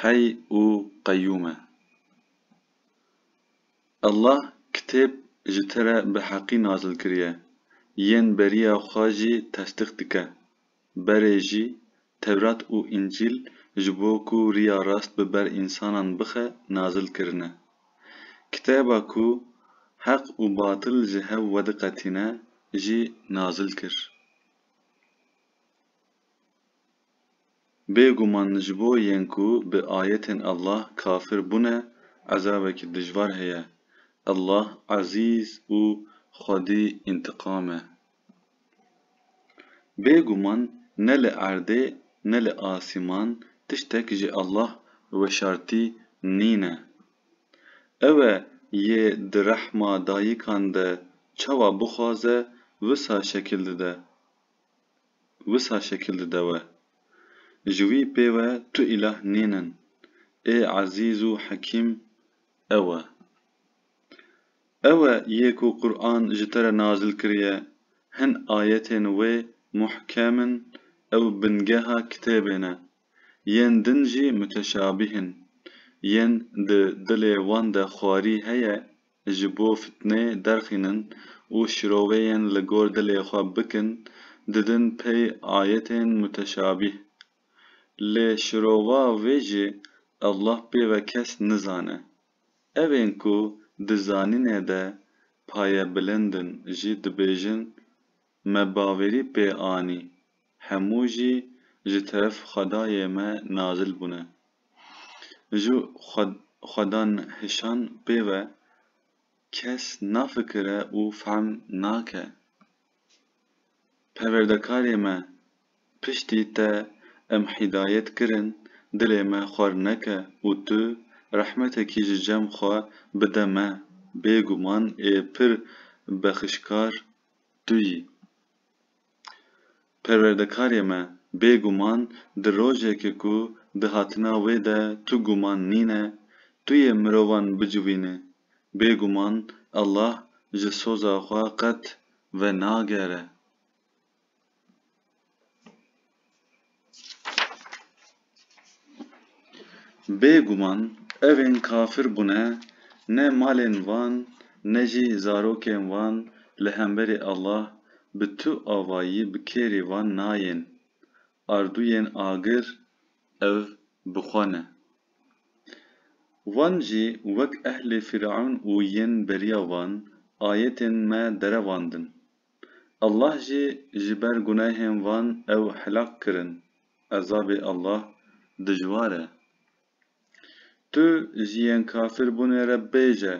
Heyy û Qeyûm e. Allah kitêb ji te re bi heqî nazil kiriye, yên beriya xwe jî tesdîq dike. Berê jî, Tewrat û Încîl ji bo ku riya rast bi ber însanan bixe nazil kirine. Kitêba ku heq û batil ji hev wediqetîne jî nazil kir. Bê guman ji bo yên ku bi ayetên Allah kafir bûne ezabekî dijwar heye. Allah Ezîz û Xwedî întiqam e. Bê guman ne li erdê ne li asîman tiştek ji Allah weşartî nîne. Ew e yê di rehma dayikan de çawa bixwaze wisa şekil dide. wisa şekil dide we. Ji wî pê we tu îlah nîn in. Ê Ezîz û Hekîm ew e. Ew e yê ku Quran ji te re nazil kiriye, hin ayetên wê muhkem in, ew bingeha kitêbê ne, yên din jî muteşabîh in, yên di dilê wan de xwarî heye, ji bo fitnê derxînin û şiroveyên li gor dilê xwe bikin didin pey ayetên muteşabîh. Lê şirova wê jî Allah pê ve kes nizane. Ev ên ku di zanînê de payebilind in jî dibêjin, Me bawerî pê anî hemû jî ji teref xwedayê me nazil bûne. Ji xwedanhişan pê ve kes nafikire û fehm nake. Perwerdekarê me, piştî te em hîdayet kirin, dilê me xwer neke û tu rehmetekî ji cem xwe bide me, bêguman ê pir bexişkar tu yî. Perwerdekarê me, bê guman di rojekê ku di hatina wê de tu guman nîne, tu yê mirovan bicivînî. Bê guman Allah ji soza xwe qet venagere. Bêguman evên kafir bûne ne malên van ne jî zarokên van li hemberî Allah bi tu avayî bi kêrî van nayên. Ardûyên agir ev bi xwe ne. Van jî wek ehlê Fîr'ewn û yên beriya van ayetên me derevandin. Allah jî ji ber gunehên van ew helak kirin. Ezabê Allah dijwar e. Tu ji yên kafir bûnê re bêje,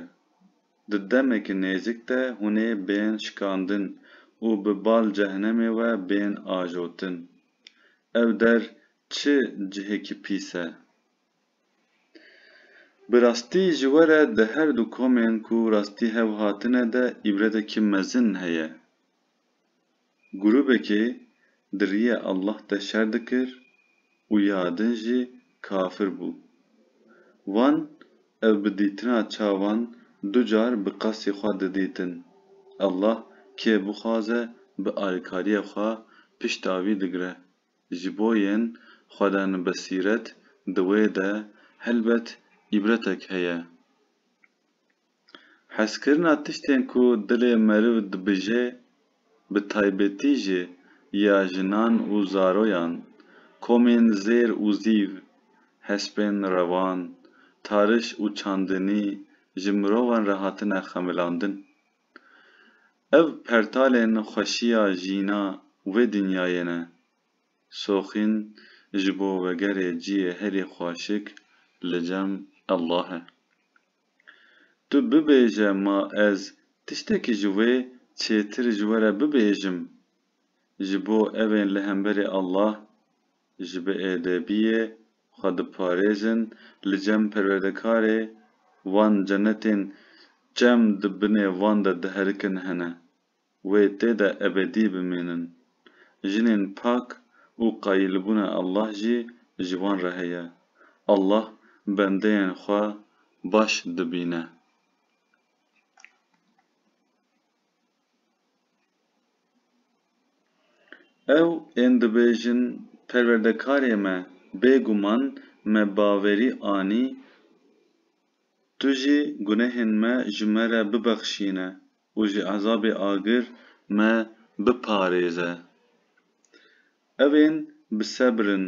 di demeke nêzik de hûn ê bên şikandin û bi bal cehnemê we bên ajotin. Ew der çi cihekî pîs e! Bi rastî ji we re di her du komên ku rastî hev hatine de îbretekî mezin heye. Grûbekê di riyê Allah de şer dikir û ya din jî kafir bû. Wan ev bi dîtina çavan du car bi qasî xwe didîtin. Allah kê bixwaze bi alîkariyê xwe pişta wî digire. Ji bo yên xwedane besîret di wê de helbet îbretek heye. Hezkirina tiştên ku dilê meriv dibije bi taybetî jî ya jinan û zaroyan, komên zêr û zîv, hespên revan, tariş û çandinî ji mirovan re hatine xemilandin. Ev pertalên xweşiya jîna wê dinyayê ne. Soxîn ji bo vegerê ciyê herî xweşik li cem Allah e. Tu bibêje ma ez tiştekî ji wê çêtir ji we re bibêjim. Ji bo evên li hemberî Allah ji bi êdebiyê xwe diparêzin, li cem perwerdekarê van cenetên çem di binê van de diherikin hene, wê tê de ebedî bimînin. Jinên pak û qayîlbûna Allah jî ji wan re heye. Allah bendeyên xwe baş dibîne. Ew ên dibêjin perwerdekarê me bê guman me bawerî anî tu jî gunehên me ji me re bibexşîne û ji ezabê agir me biparêze. Ev ên bi sebr in,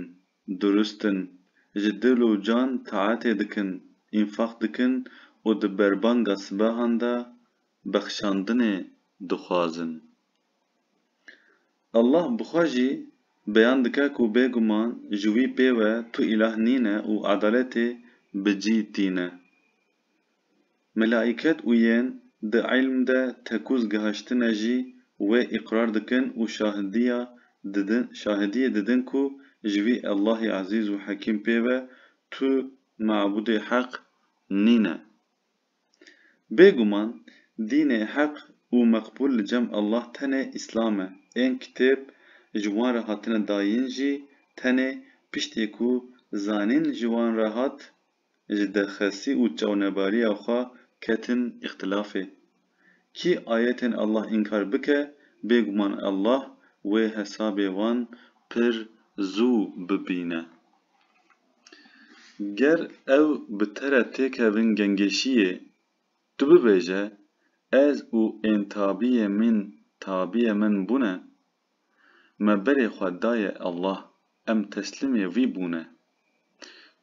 durust in, ji dil û can taetê dikin, înfaq dikin û di berbanga sibehan de, bexşandinê dixwazin. Allah bi xwe jî beyan dike ku bêguman ji wî pê ve tu îlah nîne û edaletê bi cî tîne. Melaîket û yên di îlm de tekûz gihaştine jî wê îqrar dikin û şahidiya didin şahidiyê didin ku ji wî Allahê Ezîz û Hekîm pê ve tu mabûdê heq nîne. Bêguman dînê heq û meqbûl li cem Allah tenê Îslam e, ên kitêb ji wan re hatine dayîn jî tenê piştî ku zanîn ji wan re hat, ji derxestî û çawnebariya xwe ketin îxtilafê. Kî ayetên Allah înkar bike, bêguman Allah wê hesabê wan pir zû bibîne. Ger ew bi te re têkevin gengeşiyê, tu bibêje, Ez û ên tabiyê min tabiyê min bûne, me berê xwe daye Allah, em teslimê wî bûne.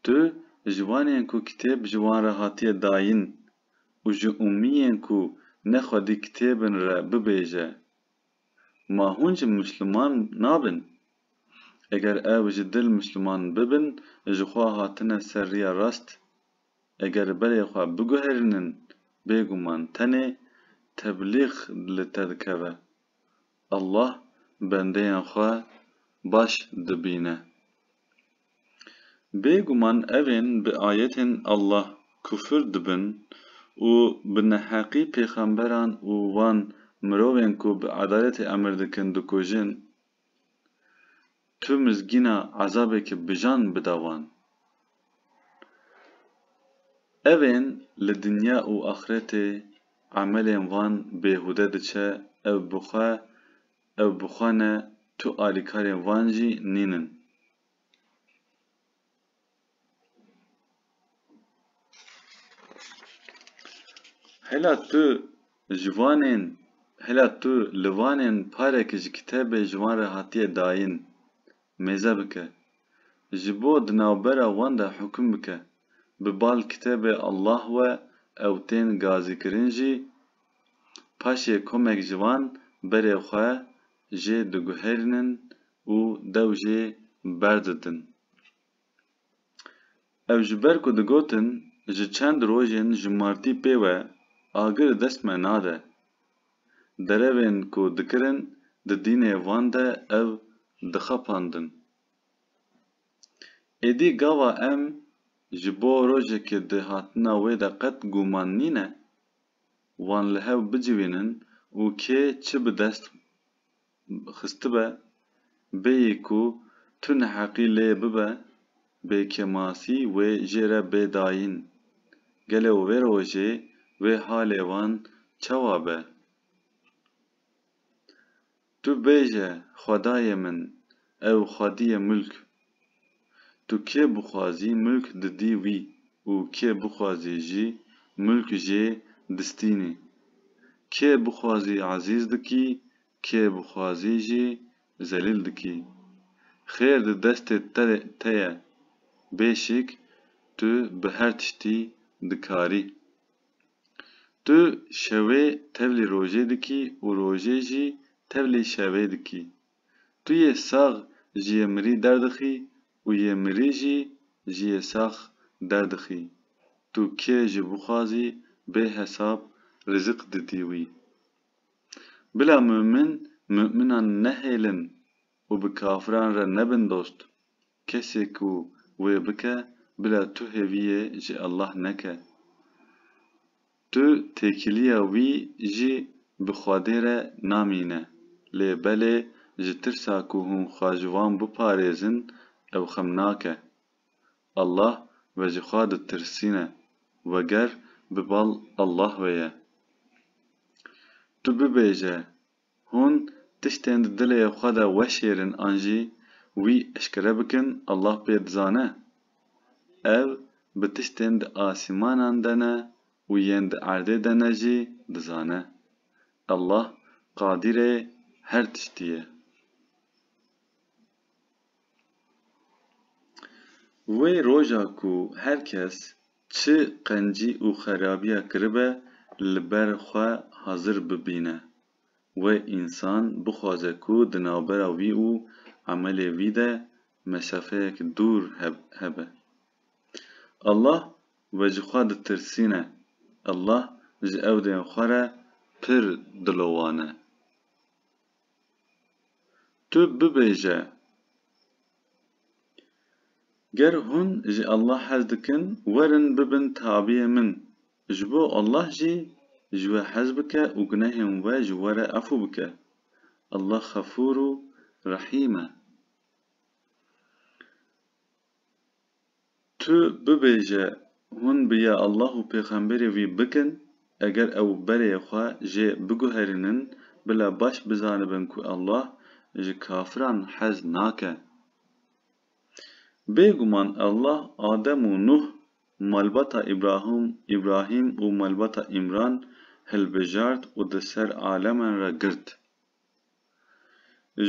Tu ji wan yên ku kitêb ji wan re hatiye dayin û ji ummiyên ku ne xwedî kitêbin re bibêje, Ma hûn ji Mûsliman nabin? Eger ew ji dil Mûsliman bibin, ji xwe hatine ser riya rast, eger berê xwe biguherînin, bêguman tenê teblîx li te dikeve. Allah bendeyên xwe baş dibîne. Bêguman evên bi ayetên Allah kufir dibin û bi neheqî pêxemberan û wan mirovên ku bi edaletê emir dikin dikujin, tu mizgîna ezabeke bijan bide wan. Evên li dinya û axretê emelên van bêhude diçe ev bi xwe Ew bi xwe ne tu alîkarên van jî nîn in. Hela tu ji vanên hela tu li vanên parek ji kitêbê ji wan re hatiye dayîn mêze bike. Ji bo di navbera wan de hukm bike. Bi bal kitêbê Allah we ew tên gazîkirin jî Paşê komek ji wan berê xwe jê diguherînin û dew jê berditin. Ew ji ber ku digotin ji çend rojên ji martî pê we agir dest me nade. Derevên ku dikirin di dînê van de ew dixapandin. Êdî gava em ji bo rojekê di hatina wê de qet gûman nîne? wan li hev bicivînin û kê çi bi dest xistibe, bêyî ku tu neheqî lê bibe bê kêmasî wê jê re bê dayîn. Gelo wê rojê wê halê wan çawa be? Tu bêje xwedayê min ew xwediyê mulk. Tu kê bixwazî mulk didî wî û kê bixwazî jî mulk jê distînî. Kê bixwazî ezîz dikî kê bixwazî jî zelîl dikî. Xêr di destê te ye. Bê şik tu bi her tiştî dikarî. Tu şewê tevlî rojê dikî û rojê jî tevlî şevê dikî. Tu yê sax ji yê mirî derdixî û yê mirî jî ji yê sax derdixî. Tu kê jî bixwazî bê hesab rizik didî wî. Bila mumin muminan nehêlin û bi kafiran re nebin dost. Kesê ku wê bike bila tu hêviyê ji Allah neke. Tu têkiliya wî jî bi Xwedê re namîne. Lê belê ji tirsa ku hûn xwe ji wan biparêzin ew xem nake. Allah ve ji xwe ditirsîne weger bi bal Allah ve ye. Tu bibêje Hûn tiştên di dilê xwe de weşêrin an jî wî eşkere bikin Allah pê dizane. Ev bi tiştên di asîmanan de ne û yên di erdê de ne jî dizane. Allah Qadîrê her tiştî ye. Wê roja ku her kes Çi qencî û xerabiya kiribe li ber xwe hazir bibîne. Wê însan bixwaze ku di navbera wî û emelê wî de mesafeyek dûr hebe. Allah wê ji xwe ditirsîne, Allah ji ewdên xwe re pir dilowane. Tu bibêje, Ger hûn ji Allah hez dikin, werin bibin tabiyê min, ji bo Allah jî ji we hez bike û gunehên we ji we re efû bike. Allah Xefûr û Rehîm e. Tu bibêje hûn bi ya Allah û pêxemberê wî bikin, eger ew berê xwe jê biguherînin bila baş bizanibin ku Allah ji kafiran hez nake. Bêguman Allah Adem û Nuh, malbata Îbrahim Îbrahîm û malbata Îmran hilbijart û di ser aleman re girt.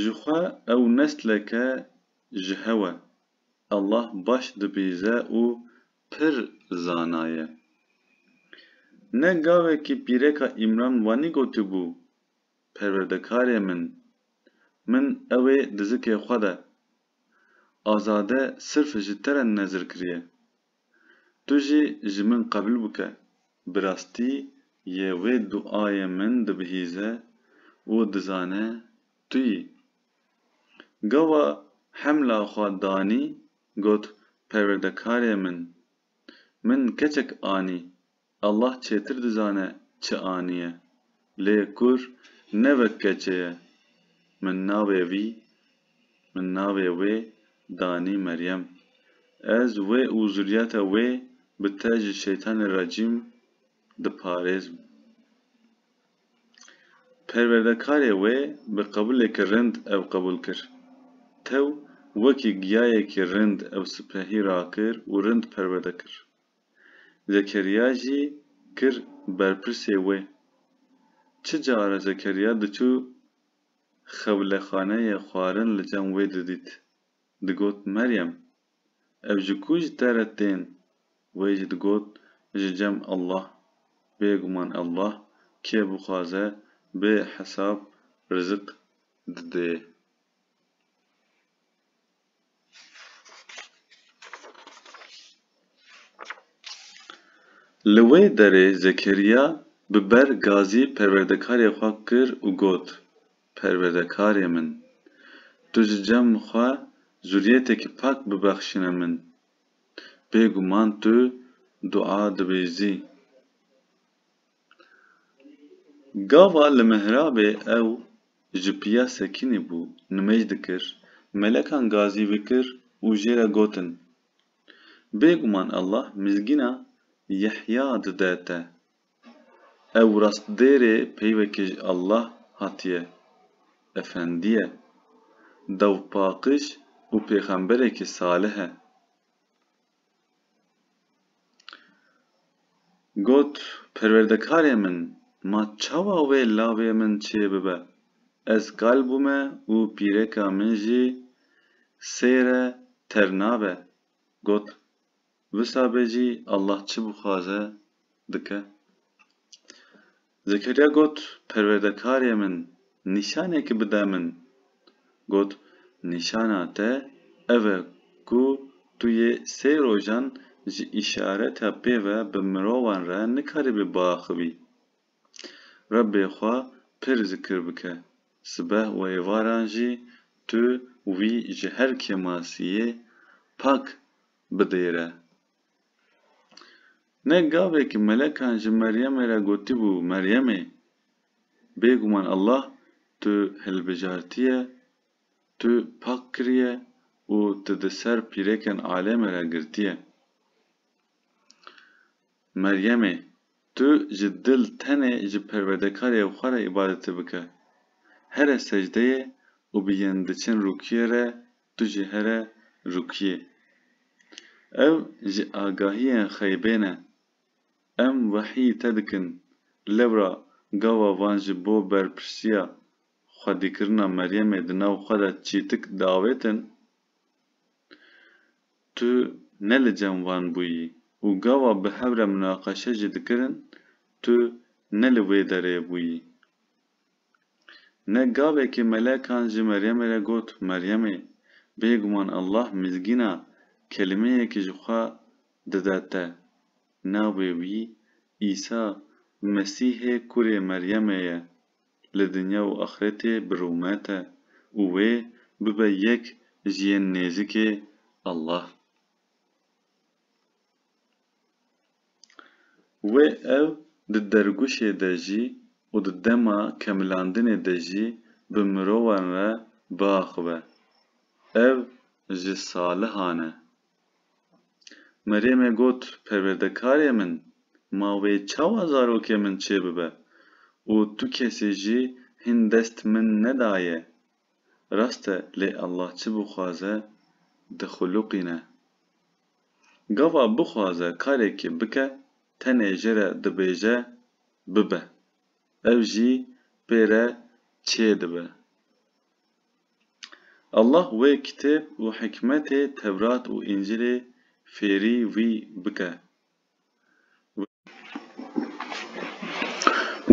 Ji xwe ew nesleke ji hew e, Allah baş dibîze û pir zana ye. Ne gavekî pîreka Îmran wanî gotibû, Perwerdekarê min, min ew ê dizikê xwe de, azade sirf ji te re nezir kiriye. Tu jî ji min qebûl bike. Bi rastî yê wê duayê min dibihîze û dizane tu yî Gawa hemla xwe danî got perwerdekarê min, min keçek anî, Allah çêtir dizane çi aniye. Lê kur ne wek keçê ye. Min navê vî, min navê wê danî Meryem. Ez wê û zuriyeta wê bi te ji Şeytanê Recîm diparêzim. Perwerdekarê wê bi qebûlekî rind ew qebûl kir. Tew wekî giyayekî rind ew sipehî rakir û rind perwerde kir. Zekeriya jî kir berpirsê wê. Çi care Zekeriya diçû xewlexaneyê xwarin li cem wê didît. Digot, Meryem, ev ji ku ji te re tên? Wê jî digot, Ji cem Allah. Bêguman Allah kê bixwaze bê hesab rizik didê. Li wê derê Zekeriya bi ber gazî perwerdekarê xwe kir û got, Perwerdekarê min! Tu ji cem xwe zurîyetekî pak bibexşîne min. Bêguman tu dua dibêjî. Gava li mihrabê ew ji piya Sekînê bû, nimêj dikir, melekan gazî vikir û jê re gotin, Bêguman Allah mizgîna Yehya dide te. Ew rastdêrê peyvekê ji Allah hatiye, efendiye, dawpaqiş û pêxemberekî salih e. Got, Perwerdekarê min, ma çawa wê lavê min çê bibe? Ez kal bûme û pîreka min jî sêre ter nabe. Got, Wisa be jî Allah çi bixwaze dike. Zekeriya got, Perwerdekarê min, nîşanekî bide min. Got, Nîşana te ev e ku tu yê sê rojan ji îşareta pê ve bi mirovan re nikaribî biaxivî. Rebbê xwe pir zikir bike. Sibeh û êvaran jî tu wî ji her kêmasiyê pak bidêre. Ne gavekî melekan ji Meryemê re gotîbû, Meryemê! Bêguman Allah tu hilbijartiye, tu pak kiriye û tu di ser pîrêkên alêmê re girtiye. Meryemê! Tu ji dil tenê ji Perwedekariyê xwe re îbadetê bike. Here secdeyê û bi yên diçin rûkiyê re Tu ji here rûkiyê. Ev ji agahiyên xeybê ne. Em wehî te dikin, lewra gava van ji bo berpirsiya xwedîkirina Meryemê di nav xwe de çîtik diavêtin? Tu ne li cem van bûyî û gava bi hev re munaqeşe jî dikirin, tu ne li wê derê bûyî. Ne gavekê melekan ji Meryemê re got, Meryemê, bêguman Allah mizgîna kelimeyekî ji xwe dide te. Navê wî Îsa Mesîhê kurê Meryemê ye. Li dinya û axretê bi rûme te û wê bibe yek ji yên nêzikê Allah. Wê ew di derguşê de jî û di dema kemilandinê de jî bi mirovan re biaxive. Ev ji salihan e. Merêmê got perwerdekarê min ma wê çawa zarokê min çêbibe û tu kesê jî hîn dest min nedaye. Rast e lê Allah çi bixwaze dixuluqîne. Gava bixwaze karekî bike tenê ji re dibêje bibe, ev jî pê re çê dibe. Allah wê kitêb û hikmetê Tewrat û Încilê fêrî wî bike.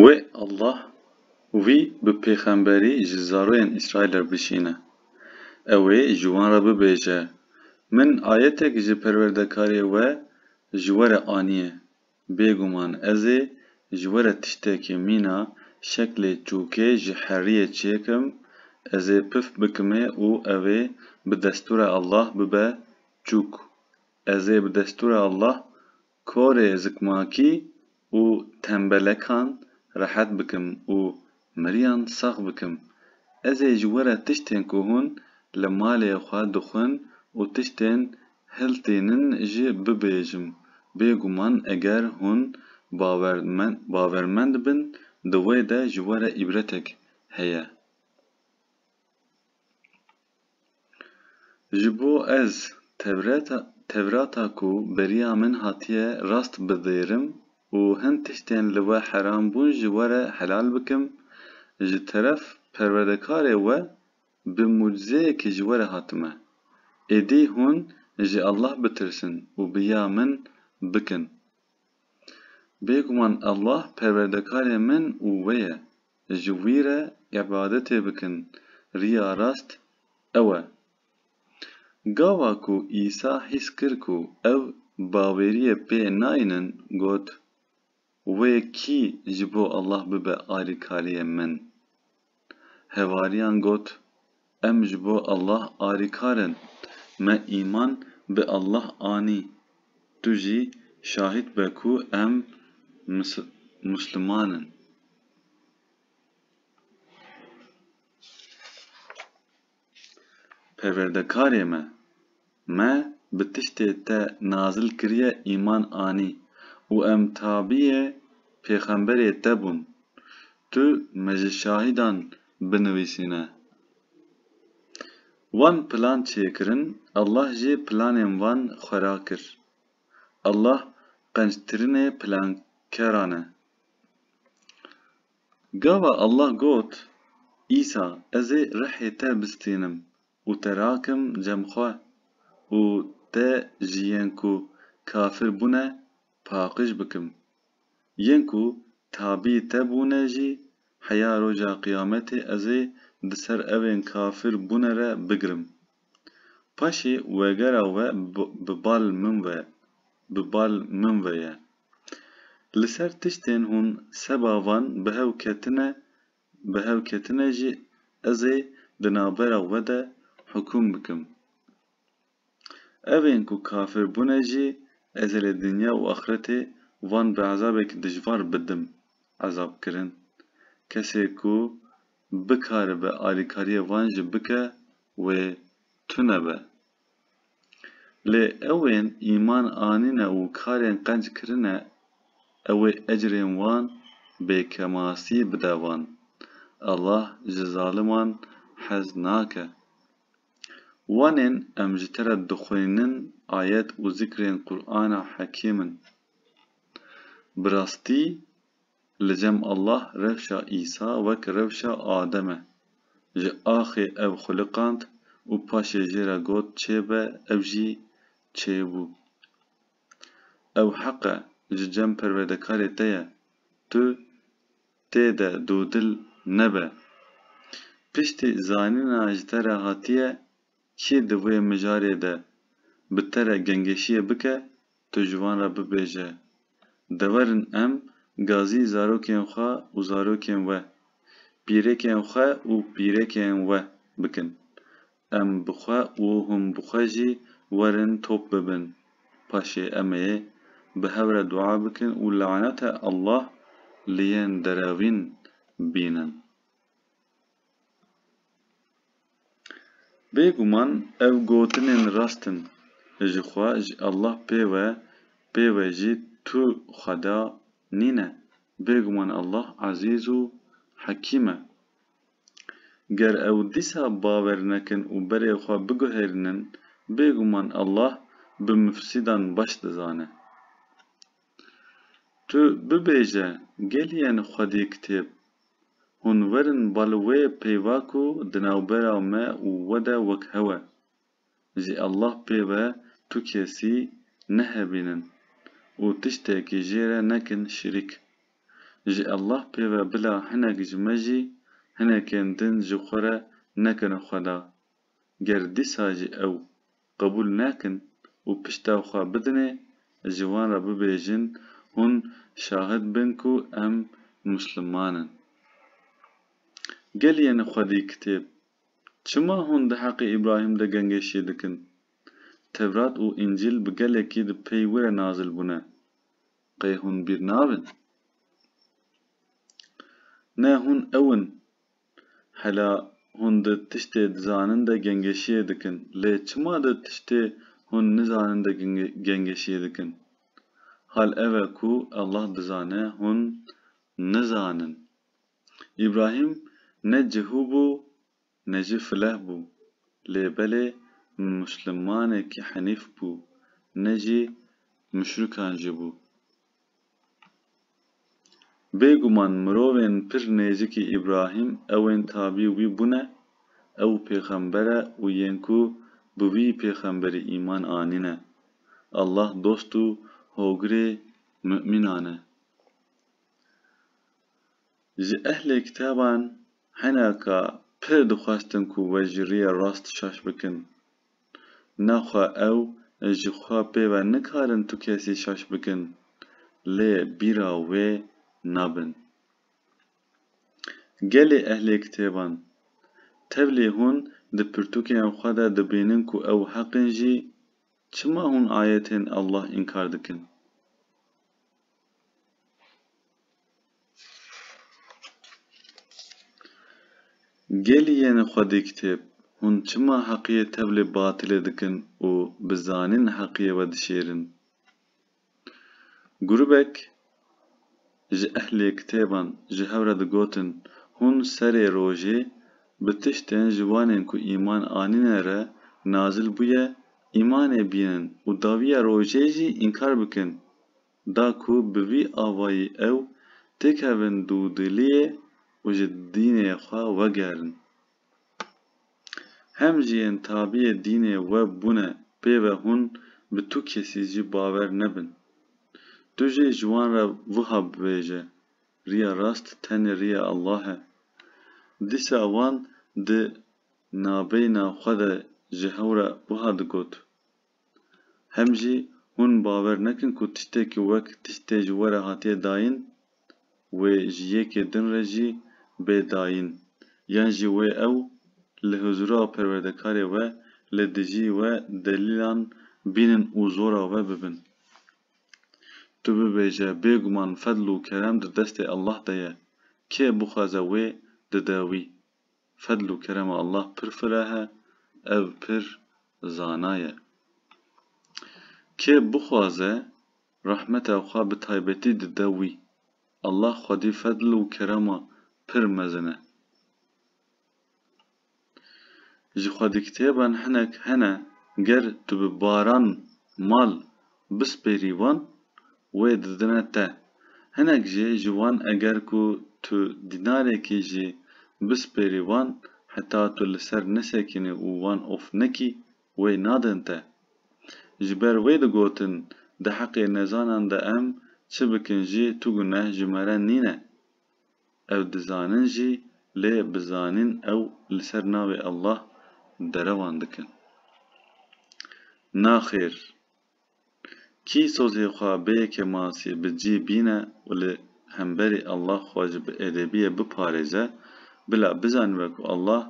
Wê Allah wî bi pêxemberî ji zaroyên Îsraîlê bişîne. Ew ê ji wan re bibêje, Min ayetek ji Perwerdekarê we ji we re aniye. Bêguman ez ê ji we re tiştekê mîna şeklê çûkê ji heriyê çêkim, ez ê pif bikimê û ew ê bi destûra Allah bibe çûk. Ez ê bi destûra Allah korê zikmakî û tembelekan rehet bikim û miriyan sax bikim. Ez ê ji we re tiştên ku hûn li malê xwe dixwin û tiştên hiltînin jî bibêjim. Bêguman eger hûn bawermend bin di wê de ji we re îbretek heye. Ji bo ez Tewrata ku beriya min hatiye rast bidêrim û hin tiştên li we heram bûn ji we re helal bikim, ji teref Perwerdekarê we bi mucizeyekî ji we re hatime. Êdî hûn ji Allah bitirsin û bi ya min bikin. Bêguman Allah Perwerdekarê min û we ye. ji wî re îbadetê bikin, riya rast ew e. Gava ku Îsa hîs kir ku ev baweriyê pê nayînin got, Wê kî ji bo Allah bibe alîkariyê min? Hevariyan got, Em ji bo Allah alîkar in. Me îman bi Allah anî. Tu jî şahîd be ku em Musliman in. Perwerdekarê me! Me bi tiştê te nazil kiriye îman anî û em tabîyê pêxemberê te bûn. Tu me ji şahîdan binivîsîne. Wan plan çêkirin, Allah jî planên wan xwera kir. Allah qenctirinê plankeran e. Gava Allah got, Îsa, ez ê rihê te bistînim, Û te rakim cem xwe. Û te ji yên ku kafir bûne paqij bikim. Yên ku tabî te bûne jî heya roja qiyametê ez ê di ser evên kafir bûne re bigirim. Paşê wegera we bi bal min ve bi bal min ve ye. Li ser tiştên hûn seba van bi hev ketine Bi hevketine jî ez ê di navbera we de hukûm bikim. Evên ku kafir bûne jî ez ê li dinya û axretê wan bi ezabekî dijwar bidim ezabkirin. Kesê ku bikaribe alîkariyê wan jî bike wê tune be. Lê ewên îman anîne û karên qenc kirine ew ê ecrên wan bê kemasî bide wan. Allah ji zaliman hez nake. Wanên em ji te re dixwînin ayet û zikrên Qur'ana hekîm in. Bi rastî Li cem Allah rewşa Îsa wek rewşa Adem e. Ji axê ew xuliqand û paşê jê re got çêbe ew jî çêbû. Ew heq e ji cem perwerdekarê te ye tu tê de dodil nebe. Piştî zanîna ji te re hatiye Kê di vê mijarê de bi te re gengeşiyê bike tu ji wan re bibêje, Dewerin em gazî zarokên xwe û zarokên we, pîrêkên xwe û pîrêkên we bikin. Em bi xwe û hûn bi xwe jî werin top bibin. Paşê em ê bi hev re dua bikin û lanete Allah li yên deravîn bînin. Bêguman ev gotinên rast in ji xwe ji Allah pê ve pê ve jî tu xweda nîne, bêguman Allah Ezîz û Hekîm e. Ger ew dîsa bawer nekin û berê xwe biguherînin, bêguman Allah bi mufsîdan baş dizane. Tu bibêje geliyên xwedî kitêb. Hûn werin ba li wê peyva ku di navbera me û we de wek hewe. Ji Allah pê ve tu kesî nehevînin û tiştekî jê re nekin şirîk. Ji Allah pê ve bila hinek ji me jî hinekên din ji xwe re nekin xweda. Ger dîsa jî ew qebûl nekin û pişta xwe bidinê, ez ji wan re bibêjin hûn şahid bin ku em musliman in. Gel yeni xwedî kitêb, çima hûn di heqê Îbrahîm de gengêşiyê dikin? Tevrat û Încîl bi gelekî di pey wire nazil bûne. Qey hûn bîr nabin? Ne hûn ew in Hela hûn di tiştê dizanin de gengeşiyê dikin, lê çima di tiştê hûn nizanin de gengeşiyê dikin? Hal ev e ku Allah dizane hûn nizanin. Îbrahîm ne cihû bû ne jî fileh bû, lê belê muslimanekî henîf bû, ne jî muşrikan jî bû. Bêguman mirovên pir nêzîkî Îbrahîm ewên tabî wî bûne, ew pêxember e û yên ku bi wî pêxemberî îman anîne. Allah dost û hogirê mu'mînan e. Ji ehlê kitaban hene ka pir dixwestin ku we ji rîyê rast şaş bikin. Naxwe ew ji xwe pê ve nikarin tu kesî şaş bikin, lê bîra wê nabin. Gelê ehlê kitêban, tevlî hûn di pirtûkên xwe de dibînin ku ew heq in jî, çima hûn ayetên Allah înkar dikin? Gelî yenê xwedî kitêb, hûn çima heqiyê tevlê batilê dikin û bi zanîn heqiyê we dişêrin? Grûbek ji ehlê kitêban ji hev re digotin, hûn serê rojê bi tiştên ji wanên ku îman anîne re nazil bûye îmanê bînin û dawiya rojê jî înkar bikin da ku bi vî avayî ew têkevin dûdiliyê û ji dînê xwe wegerin. Hem jî yên tabiyê dînê we bûne pê ve hûn bi tu kesî jî bawer nebin. Tu jî ji wan re wiha bibêje, Riya rast tenê riya Allah e. Dîsa wan di nabeyna xwe de ji hew re wiha digot, Hem jî hûn bawer nekin ku tiştê ku wek tiştê ji we re hatiye dayîn wê ji yekê din re jî bê dayîn yan jî wê ew li huzura perwerdekarê we li dijî we delîlan bînin û zora we bibin. Tu bibêje bêguman fedl û kerem di destê Allah de ye, kê bixwaze wê dide wî. Fedl û kerema Allah pir fireh e, ev pir zana ye. Kê bixwaze rehmeta xwe bi taybetî dide wî. Allah xwedî fedl û kerema pir mezin e. Ji xwedîkitêban hinek hene ger tu bi baran mal Bispêrî wan wê didine te. Hinek jî ji wan eger ku tu dînarekî jî bispêrî wan heta tu li ser nesekînî û wan of nekî wê nadin te. Ji ber wê digotin di heqê nezanan de em çi bikin jî tu guneh ji me re nîne. Ew dizanin jî lê bi zanîn ew li ser navê Allah derewan dikin. Naxêr! Kî sozê xwe bê yekê masî bi cî bîne û li hemberî Allah xwe ji bi êdebiyê biparêze, bila bizanibe ku Allah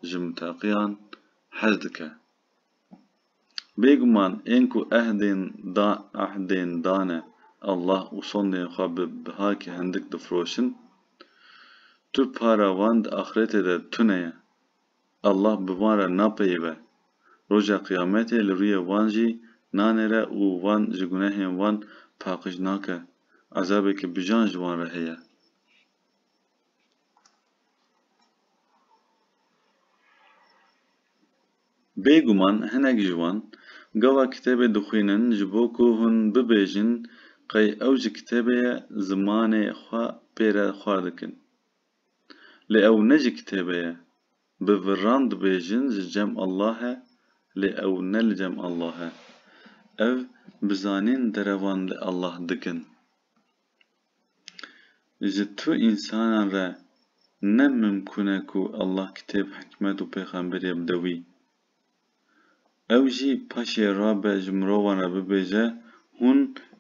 ji mutaqîyan hez dike. Bêguman ên ku ehdên da ehdên dane Allah û sondên xwe bi bihakî hindik difiroşin, tu para wan di axretê de tune ye. Allah bi van re napeyive. Roja qiyametê li rûyê wan jî nanêre û van ji gunehên wan paqij nake. Ezabeke bijan ji wan re heye. Bêguman hinek ji wan gava kitêbê dixwînin ji bo ku hûn bibêjin qey ew ji kitêbê ye zimanê xwe pê re xwar dikin. Lê ew ne ji kitêbê ye. Bi viran dibêjin ji cem Allah e lê ew ne li cem Allah e. Ev bi zanîn derevan li Allah dikin. Ji tu însanan re ne mimkûn e ku Allah kitêb, hikmet û pêxemberî bide wî. Ew jî paşê rabe ji mirovan re bibêje, Hûn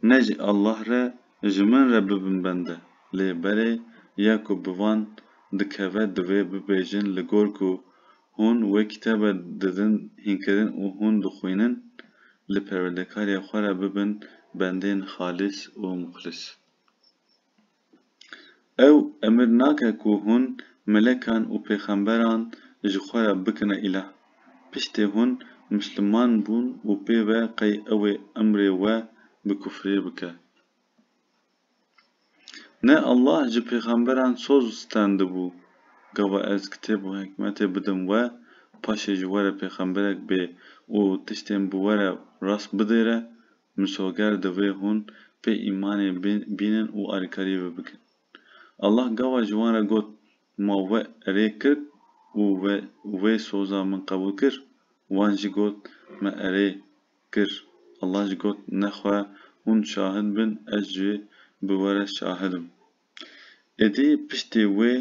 ne ji Allah re ji min re bibin bende. Lê berê ya ku bi van dikeve divê bibêjin li gor ku Hûn wê kitabe didin hînkirin û hûn dixwînin li perwerdekariya xwe re bibin bendên xalîs û muxlîs. Ew emir nake ku hûn melekan û pêxemberan ji xwe re bikine îlah. Piştê hûn misliman bûn û pê ve qey ew ê emrê we bi kufrî bike. Ne Allah ji pêxemberan soz û stendibû, gava ez kitêb û hikmetê bidim we, paşê ji we re pêxemberek bê û tiştên bi we re rast bidêre, misoger divê hûn pê îmanê bînin û alîkarî wê bikin. Allah gava ji wan re got, Ma we erê kir û we wê soza min qebûl kir? Wan jî got, Me erê kir. Allah jî got, Nexwe hûn şahid bin, ez jî bi we re şahid im. Êdî piştî wê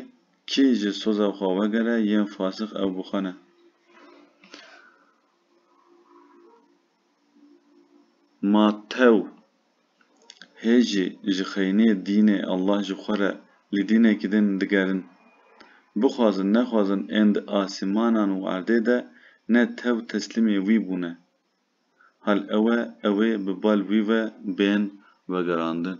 kî ji soza xwe vegere yên fasix ew bixwene. Matew. hê jî ji xeyniyê dînê Allah ji xwe re li dînekî din digerin. Bixwazin nexwazin ên di asîmanan û erdê de ne tev teslîmê wî bûne. Hal ew e ew ê bi bal wî ve bên vegerandin.